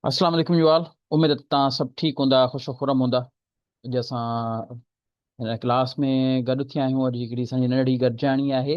السلام عليڪم you all اميد ته تان سڀ ٺيڪ هوندا خوش خرم هوندا اڄ اسان هن ڪلاس ۾ گڏ ٿيا آهيون اڄ هڪڙي سنجي نڙڙي گڏجاڻي آهي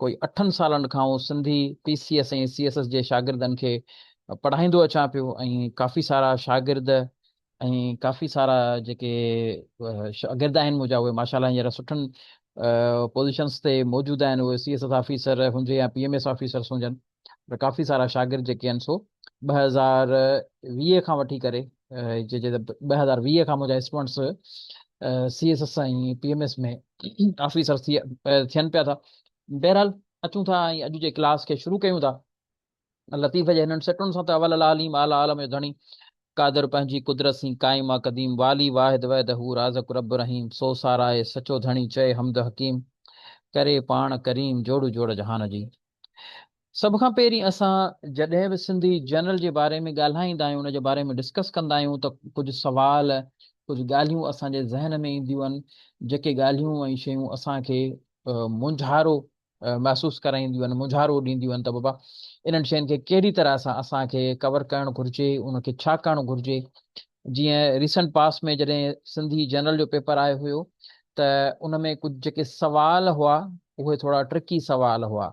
ڪوئي اٺن سالن کان آئون Sindhi P C S ۽ C S S جي شاگردن کي پڙهائيندو اچان پيو ۽ ڪافي سارا شاگرد ۽ ڪافي سارا جيڪي شاگرد آهن منهنجا اهي ماشاء الله هينئر سٺن پوزيشنس تي موجود آهن اهي سي ايس ايس آفيسر هجي يا پي ايم ايس آفيسرس هجن پر ڪافي سارا شاگرد جيڪي آهن سو ٻه هزار ويهه کان وٺي ڪري ٻه هزار ويهه کان منهنجا students C S S ۽ P M S ۾ officer ٿي ٿين پيا ٿا بهرحال اچون ٿا ۽ اڄ جي ڪلاس کي شروع ڪيون ٿا لطيف جي هنن سٽن سان ته اول العالم اعليٰ عالم جو ڌڻي قادر پنهنجي قدرت سين قائم آ قديم والي واحد وحد هو رازق رب رحيم سو ساراهي سچو ڌڻي چئي حمد حڪيم ڪري پاڻ ڪريم جوڙو جوڙ جهان جي سڀ کان پهرين اسان جڏهن به سنڌي جنرل جي باري ۾ ڳالهائيندا آهيون، ان جي باري ۾ ڊسڪس ڪندا آهيون ته ڪجهه سوال، ڪجهه ڳالهيون اسان جي ذهن ۾ اينديون آهن، جيڪي ڳالهيون ۽ شيون اسان کي مونجهارو محسوس ڪرائينديون آهن، مونجهارو ڏينديون آهن ته بابا انهن شين کي ڪهڙي طرح سان اسان کي ڪور ڪرڻ گهرجي، ان کي ڇا ڪرڻ گهرجي، جيئن ريسنٽ پاسٽ ۾ جڏهن سنڌي جنرل جو پيپر آيو هيو ته ان ۾ ڪجهه جيڪي سوال هئا اهي ٿورا ٽرڪي سوال هئا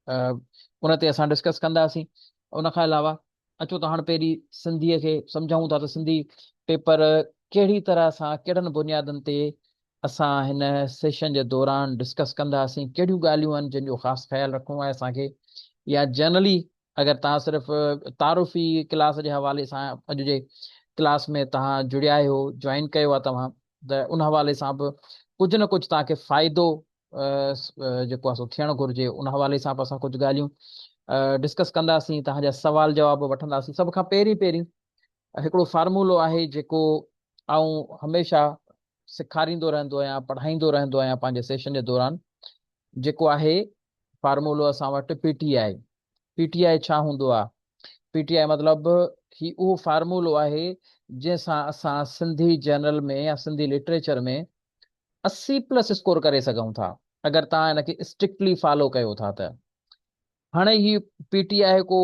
ان تي اسان ڊسڪس ڪنداسين ان کان علاوه اچو ته هاڻ پهري سنڌي کي سمجهون ٿا ته سنڌي پيپر ڪهڙي طرح سان ڪهڙن بنيادن تي اسان هن سيشن جي دوران ڊسڪس ڪنداسين ڪهڙيون ڳالهيون آهن جن جو خاص خيال رکڻو آهي اسان کي يا جنرلي اگر توهان صرف تعارفي ڪلاس جي حوالي سان اڄ جي ڪلاس ۾ توهان جڙيا آهيو جوائن ڪيو آهي توهان ته ان حوالي سان به ڪجهه نه ڪجهه توهان کي فائدو جيڪو آهي سو ٿيڻ گهرجي ان حوالي سان به اسان ڪجهه ڳالهيون ڊسڪس ڪنداسين توهان جا سوال جواب وٺنداسين سڀ کان پهرين پهرين هڪڙو فارمولو آهي جيڪو آئون هميشه سيکاريندو رهندو آهيان پڙهائيندو رهندو آهيان پنهنجي سيشن جي دوران جيڪو آهي فارمولو اسان وٽ P T I, P T I ڇا هوندو آ؟ پي ٽي آء مطلب هي اهو فارمولو آهي جنهن سان اسان سنڌي جرنل ۾ يا سنڌي لٽريچر ۾ اسي پلس اسڪور ڪري سگهون ٿا اگر توهان ان کي اسٽرڪٽلي فالو ڪيو ٿا ته هاڻي هي پي ٽي آء ڪو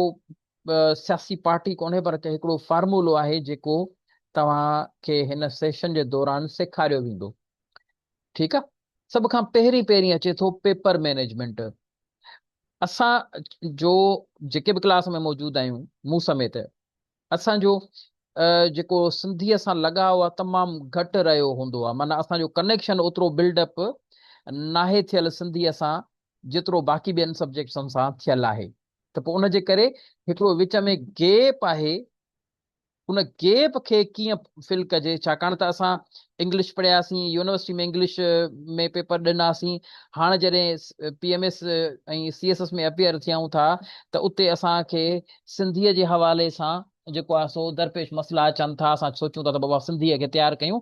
سياسي پارٽي ڪونهي پر هڪڙو فارمولو آهي جيڪو توهان کي هن سيشن جي دوران سيکاريو ويندو ٺيڪ آ سڀ کان پهرين پهرين اچي ٿو پيپر مينيجمينٽ اسان جو جيڪي به ڪلاس ۾ موجود آهيون مون سميت اسان جو جيڪو سنڌيء سان لڳاء آ تمام گهٽ رهيو هوندو آ معنيٰ اسان جو ڪنيڪشن اوترو بلڊ اپ ناهي ٿيل سنڌيء سان جيترو باقي ٻين سبجيڪٽسن سان ٿيل آهي ته پوء ان جي ڪري هڪڙو وچ ۾ گيپ آهي ان گيپ کي ڪيئن فل ڪجي ڇاڪاڻ ته اسان انگلش پڙهياسين يونيورسٽي ۾ انگلش ۾ پيپر ڏناسين هاڻ جڏهن P M S ۽ C S S ۾ appear ٿيئون ٿا ته اتي اسان کي سنڌيء جي حوالي سان جيڪو آهي سو درپيش مسئلا اچن ٿا، اسان سوچون ٿا ته بابا سنڌيء کي تيار ڪيون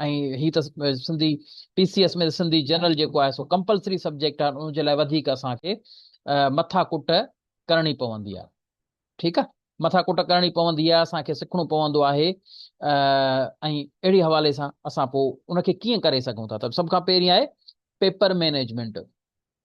۽ هي ته سنڌي پي سي ايس ۾ ته سنڌي جنرل جيڪو آهي سو ڪمپلسري سبجيڪٽ آهي ان جي لاء وڌيڪ اسان کي مٿا ڪٽ ڪرڻي پوندي آهي ٺيڪ آهي مٿا ڪٽ ڪرڻي پوندي آهي اسان کي سکڻو پوندو آهي ۽ اهڙي حوالي سان اسان پوء ان کي ڪيئن ڪري سگهون ٿا ته سڀ کان پهرين آهي پيپر مينيجمينٽ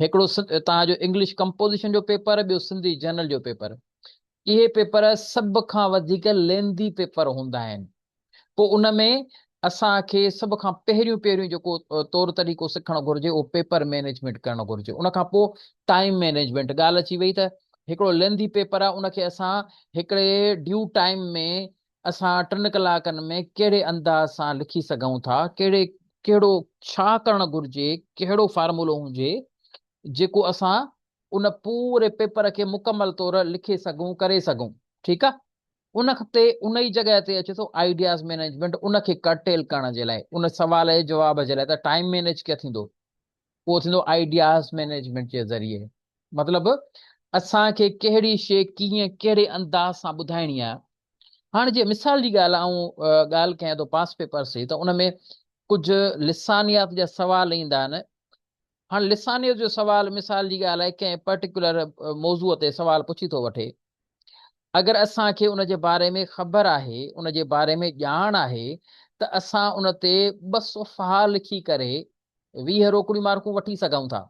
هڪڙو توهان جو انگلش ڪمپوزيشن جو پيپر ٻيو سنڌي جنرل جو پيپر اهي پيپر سڀ کان وڌيڪ لينڌي پيپر هوندا آهن پوء ان ۾ اسان کي سڀ کان پهريون پهريون جيڪو طور طريقو سکڻ گهرجي اهو پيپر مينيجمينٽ ڪرڻ گهرجي ان کان پوء ٽائيم مينيجمينٽ ڳالهه اچي وئي ته هڪڙو لينڌي پيپر آهي ان کي اسان هڪڙي ڊيو ٽائيم ۾ اسان ٽن ڪلاڪن ۾ ڪهڙي انداز سان لکي سگهون ٿا، ڪهڙي ڪهڙو ڇا ڪرڻ گهرجي، ڪهڙو فارمولو هجي، جيڪو اسان ان پوري پيپر کي مڪمل طور لکي سگهون، ڪري سگهون. ٺيڪ آ. ان تي ان ئي جڳهه تي اچي ٿو آئيڊياز مينيجمينٽ، ان کي ڪرٽيل ڪرڻ جي لاء، ان سوال جي جواب جي لاء ته ٽائيم مينيج ڪيئن ٿيندو. اهو ٿيندو آئيڊياز مينيجمينٽ جي ذريعي مطلب اسان کي ڪهڙي شيء ڪيئن ڪهڙي انداز سان ٻڌائڻي آهي هاڻ جي مثال جي ڳالهه آئون ڳالهه ڪيان ٿو پاس پيپرس جي ته ان ۾ ڪجهه لسانيات جا سوال ايندا آهن هاڻ لسانيت جو سوال مثال جي ڳالهه آهي ڪنهن پرٽيڪولر موضوع تي سوال پڇي ٿو وٺي اگر اسان کي ان جي باري ۾ خبر آهي ان جي باري ۾ ڄاڻ آهي ته اسان ان تي ٻه صفحا لکي ڪري ويهه روڪڙيون مارڪون وٺي سگهون ٿا.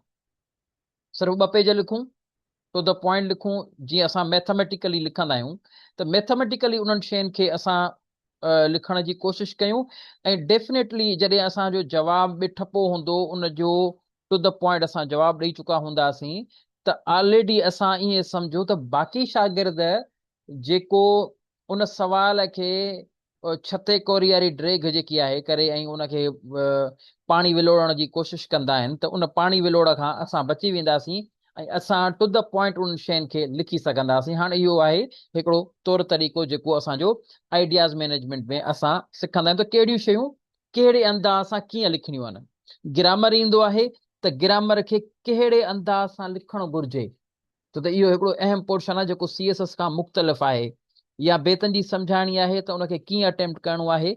صرف ٻه پيج لکون، ٽو دي پوائنٽ لکون، جيئن اسان ميٿميٽيڪلي لکندا آهيون ته ميٿميٽيڪلي انهن شين کي اسان لکڻ جي ڪوشش ڪيون ۽ ڊيفنيٽلي جڏهن اسان جو جواب به ٺپو هوندو ان جو ٽو دي پوائنٽ اسان جواب ڏئي چڪا هونداسين ته آلريڊي اسان ائين سمجهو ته باقي شاگرد جيڪو ان سوال کي ڇتي ڪورياري ڊريگهه جيڪي آهي ڪري ۽ ان کي پاڻي ولوڙڻ جي ڪوشش ڪندا آهن ته ان پاڻي ولوڙ کان اسان بچي وينداسين ۽ اسان ٽو دي پوائنٽ انهن شين کي لکي سگهنداسين هاڻ اهو آهي هڪڙو طور طريقو جيڪو اسان جو آئيڊياز مينيجمينٽ ۾ اسان سکندا آهيون ته ڪهڙيون شيون ڪهڙي انداز سان ڪيئن لکڻيون آهن گرامر ايندو آهي ته گرامر کي ڪهڙي انداز سان لکڻ گهرجي ڇو ته اهو هڪڙو اهم پورشن آهي جيڪو سي ايس ايس کان مختلف آهي يا بيتن جي سمجهاڻي آهي ته ان کي ڪيئن اٽيمپٽ ڪرڻو آهي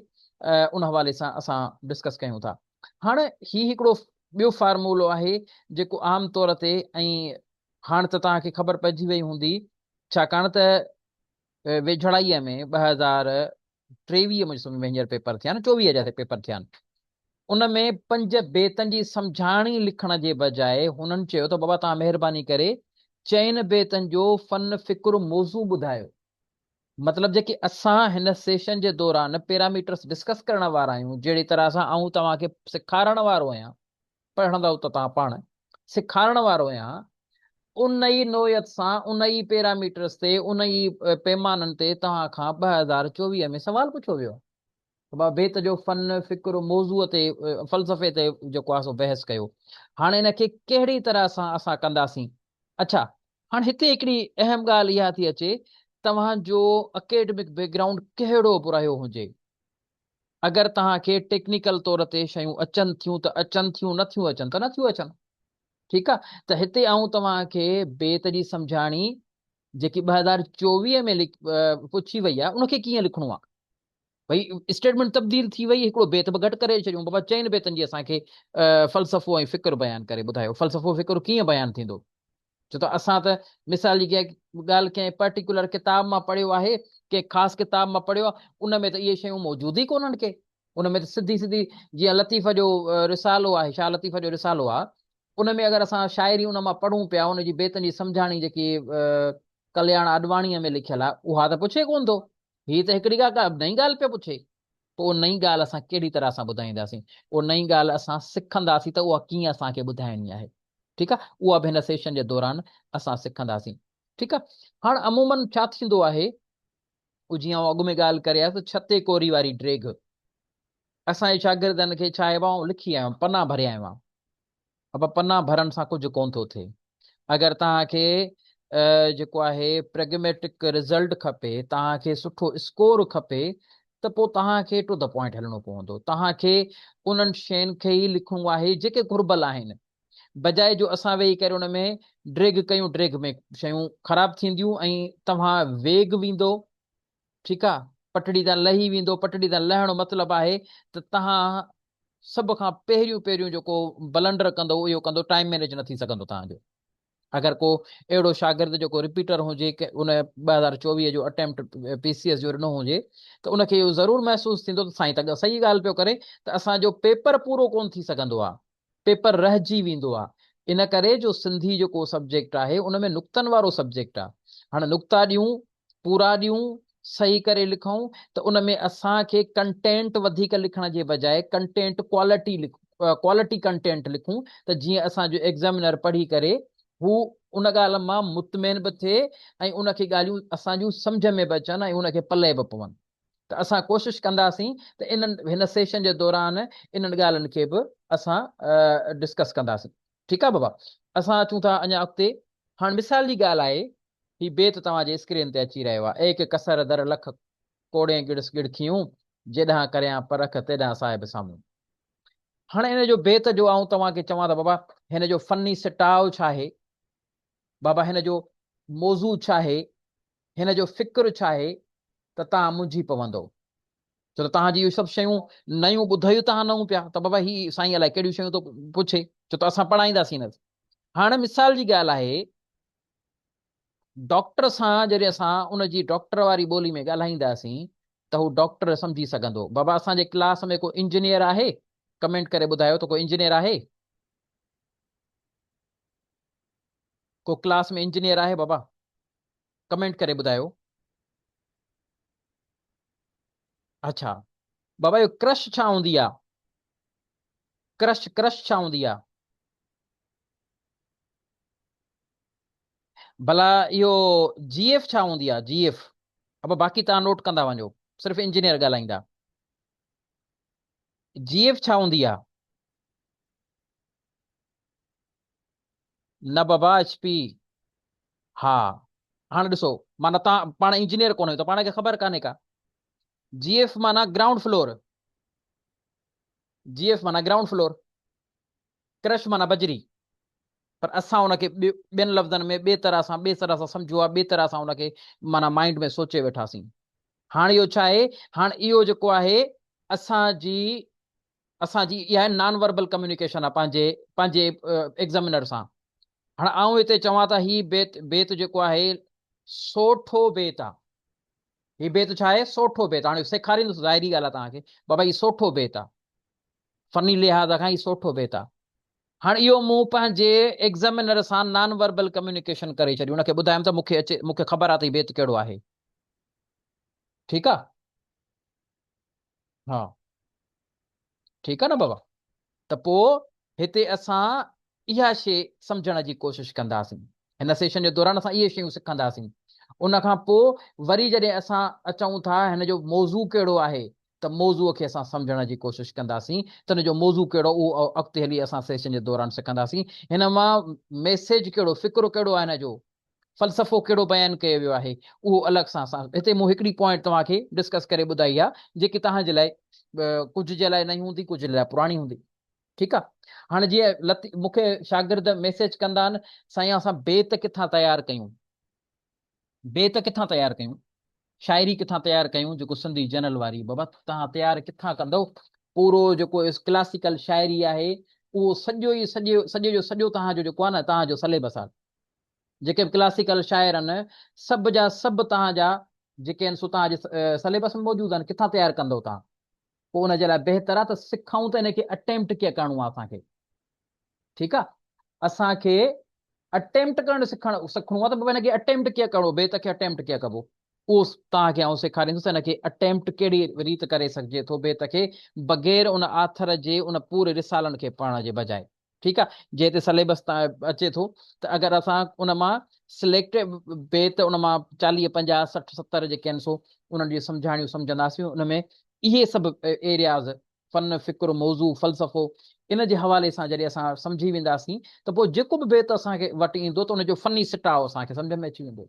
ان حوالي سان اسان ڊسڪس ڪيون ٿا هاڻ هي هڪڙو ٻيو فارمولو آهي جيڪو عام طور تي ۽ هاڻ ته توهان کي خبر پئجي وئي هوندي ڇاڪاڻ ته ويجهڙائيء ۾ ٻه هزار ٽيويهه ۾ سندس وينجهر پيپر ٿيا آهن، چوويهه جا پيپر ٿيا آهن، ان ۾ پنج بيتن جي سمجهاڻي لکڻ جي بجاء هنن چيو ته بابا توهان مهرباني ڪري چئن بيتن جو فن فڪر موضوع ٻڌايو. مطلب جيڪي اسان هن سيشن جي دوران پيراميٽرس ڊسڪس ڪرڻ وارا آهيون، جهڙي طرح سان آئون توهان کي سيکارڻ وارو آهيان، پڙهندؤ ته توهان پاڻ سيکارڻ وارو يا ان ئي نوعيت سان ان ئي پيراميٽرز تي ان ئي پيمانن تي توهان کان ٻه هزار چوويهه ۾ سوال پڇيو ويو ته بابا بيت جو فن، فڪر، موضوع تي فلسفي تي جيڪو آهي سو بحث ڪيو هاڻي ان کي ڪهڙي طرح سان اسان ڪنداسين. اڇا هاڻي هتي هڪڙي اهم ڳالهه اها ٿي اچي توهان جو اڪيڊمڪ بيڪ گرائونڊ ڪهڙو به رهيو هجي اگر توهان کي ٽيڪنيڪل طور تي شيون اچن ٿيون ته اچن ٿيون نه ٿيون اچن ته نه ٿيون اچن ٺيڪ آ ته هتي آئون توهان کي بيت جي سمجهاڻي جيڪي ٻه هزار چوويهه ۾ پڇي وئي آ ان کي ڪيئن لکڻو آ ڀئي اسٽيٽمينٽ تبديل ٿي وئي هڪڙو بيت به گهٽ ڪري ڇڏيون بابا چئن بيتن جي اسان کي فلسفو ۽ فڪر بيان ڪري ٻڌايو فلسفو فڪر ڪيئن بيان ٿيندو ڇو ته اسان ته مثال جي ڪنهن ڳالهه ڪنهن پرٽيڪيولر ڪتاب مان پڙهيو آهي، ڪنهن خاص ڪتاب مان پڙهيو آهي، ان ۾ ته اهي شيون موجود ئي ڪونهن ڪي. ان ۾ ته سڌي سڌي جيئن لطيف جو رسالو آهي، شاهه لطيف جو رسالو آهي، ان ۾ اگر اسان شاعري ان مان پڙهون پيا، ان جي بيتن جي سمجهاڻي جيڪي ڪلياڻ آڏواڻيء ۾ لکيل آهي، اها ته پڇي ڪونه ٿو. هي ته هڪڙي ڪا نئين ڳالهه پيو پڇي. اهو نئين ڳالهه اسان ڪهڙي طرح سان ٻڌائينداسين؟ اهو نئين ڳالهه اسان سکنداسين ته اها ڪيئن اسان کي ٻڌائڻي آهي. ٺيڪ آهي. اها به هن سيشن جي دوران اسان سکنداسين. ٺيڪ آهي. هاڻ عموماً ڇا ٿيندو آهي او جيئن آئون اڳ ۾ ڳالهه ڪري آيس ته ڇتي ڪوري واري ڊريگهه اسان جي شاگردن کي ڇا آهي ٻانهون لکي آيو آهيان پنا ڀريا آهيون آئون اڀ پنا ڀرڻ سان ڪجهه ڪونه ٿو ٿئي. اگر توهان کي جيڪو آهي پريگميٽڪ رزلٽ کپي، توهان کي سٺو اسڪور کپي ته پوء توهان کي ٽو دي پوائنٽ هلڻو پوندو. توهان کي انهن شين کي ئي لکڻو آهي جيڪي گهربل آهن. بجاء جو اسان ويهي ڪري ان ۾ ڊريگ ڪيون ڊريگ ۾ شيون خراب ٿينديون ۽ توهان ويگ ويندو ٺيڪ آ پٽڙي تان لهي ويندو پٽڙي تان لهڻ مطلب آهي ته توهان سڀ کان پهريون پهريون جيڪو بلنڊر ڪندو اهو اهو ڪندو ٽائيم مينيج نه ٿي سگهندو توهان جو اگر ڪو اهڙو شاگرد جيڪو رپيٽر هجي ڪي ان ٻه هزار چوويهه جو اٽيمپٽ پي سي ايس جو ڏنو هجي ته ان کي اهو ضرور محسوس ٿيندو ته سائين ته صحيح ڳالهه پيو ڪري ته اسان جو پيپر پورو ڪون ٿي سگهندو آهي پيپر رهجي ويندو آهي ان ڪري جو سنڌي جيڪو سبجيڪٽ آهي ان ۾ نقطن وارو سبجيڪٽ آهي هاڻ نقطا ڏيون پورا ڏيون، صحيح ڪري لکون ته ان ۾ اسان کي ڪنٽينٽ وڌيڪ لکڻ جي بجاء ڪنٽينٽ ڪوالٽي Quality ڪنٽينٽ لکون ته جيئن اسان جو ايگزامينر پڙهي ڪري هو ان ڳالهه مان مطمئن به ٿئي ۽ ان کي ڳالهيون اسان جون سمجهه ۾ به اچن ۽ ان کي پلئه به پون ته اسان ڪوشش ڪنداسين ته انهن هن سيشن جي دوران انهن ڳالهن کي به اسان ڊسڪس ڪنداسين. ٺيڪ آ بابا اسان اچون ٿا اڃا اڳتي. هاڻ مثال جي ڳالهه آهي هي بيت توهان جي اسڪرين تي اچي رهيو آهي. ايڪ ڪسر در لک ڪوڙين ڳڙس ڳڙکيون، جيڏانهن ڪريان پرک تيڏانهن صاحب سامهون. هاڻ ان جو بيت جو آئون توهان کي چوان ته بابا هن جو فني سٽاء ڇاهي؟ بابا هن جو موضوع ڇاهي؟ هن جو فڪر ڇاهي؟ ته توهان منجهي پوندؤ. ڇو ته توهان جي اهي سڀ شيون نيون ٻڌيو توهان نهون پيا ته بابا هي سائين الائي ڪهڙيون شيون ٿو پڇي ڇو ته اسان پڙهائينداسين نه هاڻي مثال جي ڳالهه آهي ڊاڪٽر سان جڏهن اسان ان جي ڊاڪٽر واري ٻولي ۾ ڳالهائينداسين ته هو ڊاڪٽر سمجهي سگهندو بابا اسان جي ڪلاس ۾ ڪو انجنيئر آهي ڪمينٽ ڪري ٻڌايو ته ڪو انجنيئر آهي ڪو ڪلاس ۾ انجنيئر آهي بابا ڪمينٽ ڪري ٻڌايو. اڇا بابا اهو ڪرش ڇا هوندي آ ڪرش ڪرش ڇا هوندي آ. ڀلا اهو جي ايف ڇا هوندي آ جي ايف ابا باقي توهان نوٽ ڪندا وڃو صرف انجنيئر ڳالهائيندا جي ايف ڇا هوندي آ. نه بابا ايڇ پي ها هاڻ ڏسو معنيٰ تان پاڻ انجنيئر ڪونه آهيو ته پاڻ کي خبر ڪانهي ڪا جي ايف معنيٰ گرائونڊ فلور جي ايف معنيٰ گرائونڊ فلور ڪرش معنيٰ بجري پر اسان ان کي ٻين لفظن ۾ ٻي طرح سان ٻي طرح سان سمجهو آهي ٻي طرح سان ان کي معنيٰ مائنڊ ۾ سوچي ويٺاسين هاڻ اهو ڇا آهي هاڻ اهو جيڪو آهي اسان جي اسان جي اها نان وربل ڪميونيڪيشن آ پنهنجي پنهنجي ايگزامينر سان. هاڻ آئون هتي چوان ته هي بيت بيت جيڪو آهي سوٺو بيت آ. هي بيت ڇا آهي سوٺو بيت هاڻي سيکاريندس ظاهري ڳالهه آ توهان کي بابا هي سوٺو بيت آ فني لحاظ کان هي سوٺو بيت آ هاڻ اهو مون پنهنجي ايگزامينر سان نان وربل ڪميونيڪيشن ڪري ڇڏي ان کي ٻڌايم ته مون کي اچي مون کي خبر آ ته هي بيت ڪهڙو آهي ٺيڪ آ ها ٺيڪ آ نه بابا ته پو هتي اسان اها شي سمجهڻ جي ڪوشش ڪنداسين هن سيشن جي دوران اسان اهي شيون سکنداسين ان کان پو وري جڏهن اسان اچون ٿا هن جو موضوع ڪهڙو آهي ته موضوع کي اسان سمجهڻ جي ڪوشش ڪنداسين ته هن جو موضوع ڪهڙو اهو اڳتي هلي اسان سيشن جي دوران سکنداسين هن مان ميسيج ڪهڙو فڪرو ڪهڙو آهي هن جو فلسفو ڪهڙو بيان ڪيو ويو آهي اهو الڳ سان اسان هتي مون هڪڙي پوائنٽ توهان کي ڊسڪس ڪري ٻڌائي آهي جيڪي توهان جي لاء ڪجهه جي لاء نئين هوندي ڪجهه جي لاء پراڻي هوندي ٺيڪ آهي هاڻ جي لطي مون کي شاگرد ميسيج ڪندا آهن سائين اسان بيت ڪٿان تيار ڪيون بيت ڪٿان تيار ڪيون شاعري ڪٿان تيار ڪيون جيڪو سنڌي جنرل واري بابا تهان تيار ڪٿان ڪندو پورو جيڪو ڪلاسيڪل شاعري آهي اهو سڄو ئي سڄو سڄو جو سڄو توهان جو جيڪو آهي نه توهان جو سليبس آهي جيڪي به ڪلاسيڪل شاعر آهن سڀ جا سڀ توهان جا جيڪي آهن سو توهان جي سليبس ۾ موجود آهن ڪٿان تيار ڪندو توهان پوء ان جي لاء بهتر آهي ته سکائون ته ان کي اٽيمپٽ ڪيئن ڪرڻو آهي اسان کي ٺيڪ آهي اسان کي اٽيمپٽ ڪرڻ سکڻ سکڻو آهي ته ان کي اٽيمپٽ ڪيئن ڪرڻو بيت کي اٽيمپٽ ڪيئن ڪبو اهو توهان کي آئون سيکاريندس ان کي اٽيمپٽ ڪهڙي ريت ڪري سگهجي ٿو بيت کي بغير ان آٿر جي ان پوري رسالن کي پڙهڻ جي بجائي ٺيڪ آ جنهن تي سليبس تان اچي ٿو ته اگر اسان ان مان سليڪٽ بيت ان مان چاليهه پنجاهه سٺ ستر جيڪي آهن سو انهن جي سمجهاڻيون سمجهنداسين ان ۾ اهي سڀ ايرياز فن فڪر موضوع فلسفو ان جي حوالي سان جڏهن اسان سمجهي وينداسين ته پوء جيڪو به بيت اسان کي وٽ ايندو ته ان جو فني سٽاء اسان کي سمجهه ۾ اچي ويندو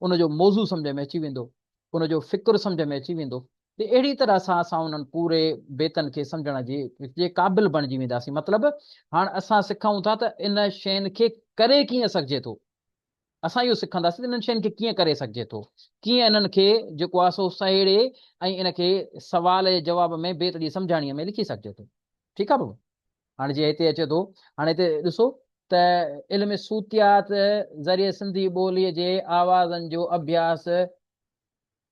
ان جو موضوع سمجهه ۾ اچي ويندو ان جو فڪر سمجهه ۾ اچي ويندو تي اهڙي طرح سان اسان انهن پوري بيتن کي سمجهڻ جي جي قابل بڻجي وينداسين مطلب هاڻ اسان سکون ٿا ته ان شين کي ڪري ڪيئن سگهجي ٿو اسان اهو سکنداسين ته انهن شين کي ڪيئن ڪري سگهجي ٿو ڪيئن انهن کي جيڪو آهي سو سهيڙي ۽ ان کي سوال جي جواب ۾ بيت جي سمجهاڻي ۾ لکي سگهجي ٿو ٺيڪ آهي بابا هاڻي جي هتي اچي ٿو هاڻي هتي ڏسو ته علم صوتيات ذريعي سنڌي ٻولي جي آوازن جو اڀياس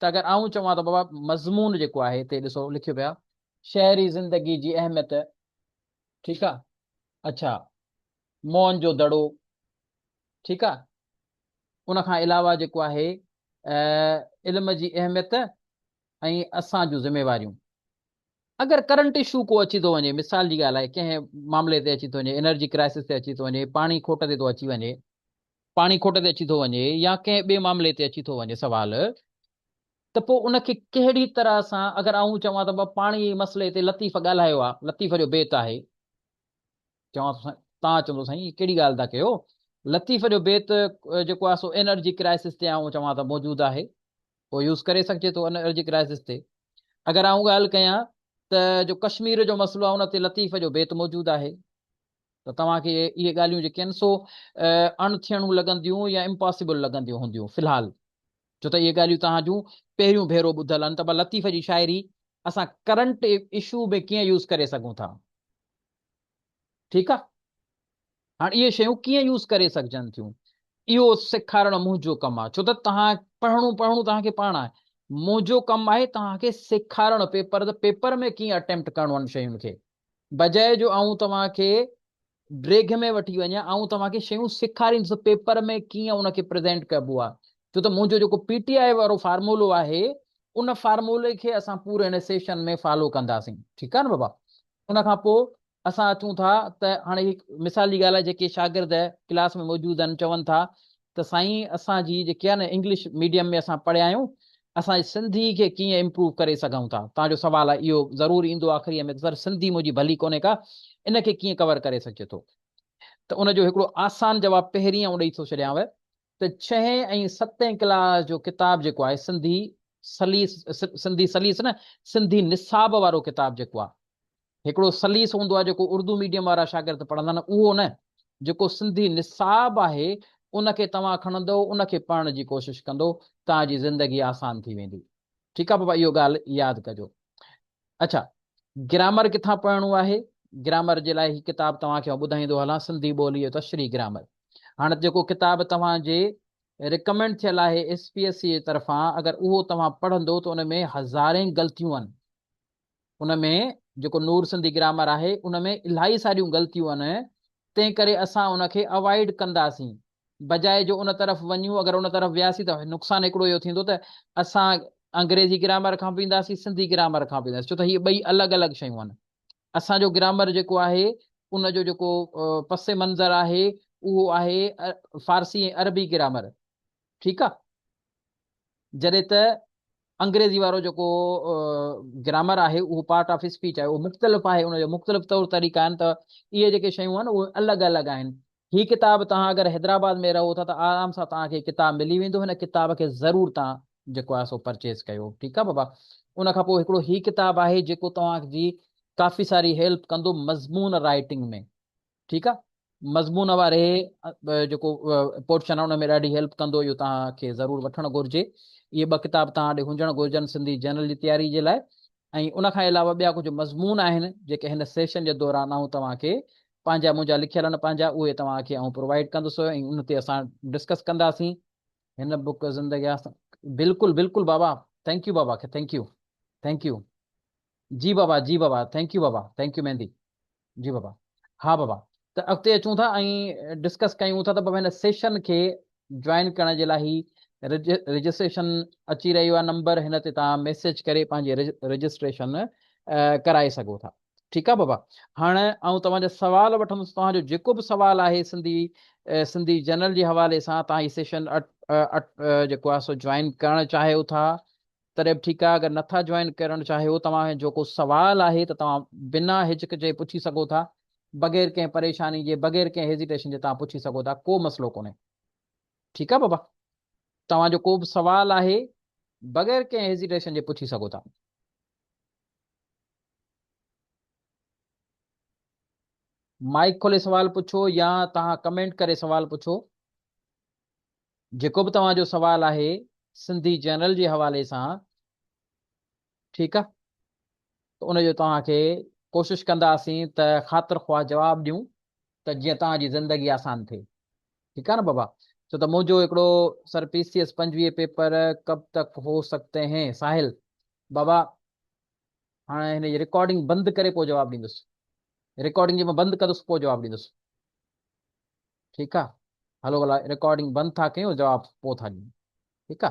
ته اگر آئون چوان ته بابا مضمون جيڪو آهي هتي ڏسو لکيو پيو آهي شهري زندگي جي اهميت ٺيڪ آهي اڇا موهن جو دڙو ٺيڪ آهي ان کان علاوه جيڪو آهي علم جي اهميت ۽ اسان جون ذميواريون اگر ڪرنٽ اشو ڪو اچي ٿو وڃي مثال جي ڳالهه آهي ڪنهن معاملي تي اچي ٿو وڃي انرجي ڪرائسس تي اچي ٿو وڃي پاڻي کوٽ تي ٿو اچي وڃي پاڻي کوٽ تي اچي ٿو وڃي يا ڪنهن ٻئي معاملي تي اچي ٿو وڃي سوال ته پوء ان کي ڪهڙي طرح سان اگر آئون چوان ته بابا پاڻي جي مسئلي تي لطيف ڳالهايو آ لطيف جو بيت آهي چوان ٿو سائين تان چوندو سائين هي ڪهڙي ڳالهه ٿا ڪيو لطيف جو بيت جيڪو آهي سو انرجي ڪرائسس تي آئون چوان ته موجود آهي پوء يوز ڪري سگهجي ٿو انرجي ڪرائسس تي اگر آئون ڳالهه ڪيان ته جو ڪشمير جو مسئلو آهي ان تي لطيف جو بيت موجود آهي ته توهان کي اهي ڳالهيون جيڪين سو اڻ ٿيڻون لڳنديون يا امپاسيبل لڳنديون هونديون في الحال ڇو ته اهي ڳالهيون توهان جون پهريون ڀيرو ٻڌل آهن ته ڀلا لطيف جي شاعري اسان ڪرنٽ اشو ۾ ڪيئن يوز ڪري سگهون ٿا ٺيڪ آهي هاڻ اهي شيون ڪيئن يوز ڪري سگهجن ٿيون اهو سيکارڻ منهنجو ڪم آهي ڇو ته توهان پڙهڻو پڙهڻو توهان کي پاڻ آهي منهنجو ڪم آهي توهان کي سيکارڻ پيپر ته پيپر ۾ ڪيئن اٽيمپٽ ڪرڻو ان شين کي بجاء جو آئون توهان کي ڊريگهه ۾ وٺي وڃان، آئون توهان کي شيون سيکاريندس پيپر ۾ ڪيئن ان کي پريزينٽ ڪبو آهي. ڇو ته منهنجو جيڪو پي ٽي آء وارو فارمولو آهي، ان فارمولي کي اسان پوري هن سيشن ۾ فالو ڪنداسين. ٺيڪ آهي نه بابا؟ ان کان پوء اسان اچون ٿا ته هاڻي هڪ مثال جي ڳالهه آهي جيڪي شاگرد ڪلاس ۾ موجود آهن چون ٿا ته سائين اسان جي جيڪي آهي نه انگلش ميڊيم ۾ اسان پڙهيا آهيون اسان جي سنڌي کي ڪيئن امپروو ڪري سگهون ٿا توهان جو سوال آهي اهو ضرور ايندو آخري ۾ ته سر سنڌي منهنجي ڀلي ڪونهي ڪا ان کي ڪيئن ڪور ڪري سگهجي ٿو ته ان جو هڪڙو آسان جواب پهرين آئون ڏئي ٿو ڇڏيانو ته ڇهين ۽ ستين ڪلاس جو ڪتاب جيڪو آهي سنڌي سليس سنڌي سليس نه سنڌي نصاب وارو ڪتاب جيڪو آهي هڪڙو سليس هوندو آهي جيڪو اردو ميڊيم وارا شاگرد پڙهندا آهن اهو نه جيڪو سنڌي نصاب آهي ان کي توهان کڻندو ان کي پڙهڻ جي ڪوشش ڪندو توهان جي زندگي آسان ٿي ويندي ٺيڪ آهي بابا اهو ڳالهه ياد ڪجو اڇا گرامر ڪٿان پڙهڻو آهي گرامر جي لاء هي ڪتاب توهان کي ٻڌائيندو هلان سنڌي ٻولي جو تشريح گرامر هاڻ جيڪو ڪتاب توهان جي رڪمينڊ ٿيل آهي ايس پي ايس سي جي طرفان اگر اهو توهان پڙهندو ته ان ۾ هزارين غلطيون آهن ان ۾ جيڪو نور سنڌي گرامر آهي ان ۾ الاهي ساريون غلطيون ان تنهن ڪري اسان ان کي اوائيڊ ڪنداسين بجاء جو ان طرف وڃون اگر ان طرف وياسين ته نقصان هڪڙو اهو ٿيندو ته اسان انگريزي گرامر کان به اينداسين سنڌي گرامر کان به اينداسين ڇو ته هي ٻئي الڳ الڳ شيون آهن اسان جو گرامر جيڪو آهي ان جو جيڪو پس منظر آهي اهو آهي فارسي ۽ عربي گرامر ٺيڪ آهي جڏهن ته انگريزي وارو جيڪو گرامر آهي اهو پارٽ آف اسپيچ آهي اهو مختلف آهي ان جا مختلف طور طريقا آهن ته اهي جيڪي شيون آهن اهي الڳ الڳ آهن هي ڪتاب توهان اگر حيدرآباد ۾ رهو ٿا ته آرام سان توهان کي ڪتاب ملي ويندو هن ڪتاب کي ضرور توهان جيڪو آهي سو پرچيز ڪيو ٺيڪ آهي بابا ان کان پوء هڪڙو هي ڪتاب آهي جيڪو توهان جي ڪافي ساري هيلپ ڪندو مضمون رائٽنگ ۾ ٺيڪ آ مضمون واري جيڪو پورشن ان ۾ ڏاڍي هيلپ ڪندو اهو توهان کي ضرور وٺڻ گهرجي اهي ٻه ڪتاب توهان ڏي هجڻ گهرجن سنڌي جنرل جي تياري جي لاء ۽ ان کان علاوه ٻيا ڪجهه مضمون آهن جيڪي هن سيشن جي دوران آئون توهان کي پنهنجا منهنجا لکيل آهن پنهنجا اهي توهان کي آئون پرووائيڊ ڪندس ۽ ان تي اسان ڊسڪس ڪنداسين هن بوڪ زندگي بلڪل بلڪل بابا ٿينڪ يو بابا کي ٿينڪ يو ٿينڪ يو جي بابا جي بابا ٿينڪ يو بابا ٿينڪ يو ميندي جي بابا ها بابا ته اڳتي اچون ٿا ۽ ڊسڪس ڪيون ٿا ته بابا هن سيشن کي جوائن ڪرڻ جي لاء هي رجسٽريشن اچي رهيو آهي نمبر هن تي تان ميسج ڪري پنهنجي رجسٽريشن ڪرائي سگهو ٿا ٺيڪ آ بابا هاڻي آئون توهان جا سوال وٺندس توهان جو جيڪو به سوال آهي سنڌي سنڌي جنرل جي حوالي سان توهان هي سيشن جيڪو آهي سو جوائن ڪرڻ چاهيو ٿا تڏهن به ٺيڪ آهي اگر نٿا جوائن ڪرڻ چاهيو توهان جو ڪو سوال آهي ته توهان بنا هچڪچي پڇي سگهو ٿا بغير ڪنهن پريشاني جي بغير ڪنهن هيزيٽيشن جي توهان پڇي سگهو ٿا ڪو مسئلو ڪونهي ٺيڪ آهي بابا توهان جو ڪو به سوال آهي بغير ڪنهن هيزيٽيشن جي پڇي سگهو ٿا مائڪ کولي سوال پڇو يا توهان ڪمينٽ ڪري سوال پڇو جيڪو به توهان جو سوال آهي سنڌي جنرل جي حوالي سان ٺيڪ آ ته ان جو توهان کي ڪوشش ڪنداسين ته خاطر خواهه جواب ڏيون ته جيئن توهان جي زندگي آسان ٿئي ٺيڪ آ نه بابا ڇو ته منهنجو هڪڙو سر پي سي ايس پنجويهه پيپر ڪب تڪ هو سڪتي هين ساحل بابا هاڻي هن جي رڪارڊنگ بند ڪري پوء جواب ڏيندس رڪارڊنگ جي مان بند ڪندس پوء جواب ڏيندس ٺيڪ آ هلو ڀلا رڪارڊنگ بند ٿا ڪيون جواب پو ٿا ڏيون ٺيڪ آ.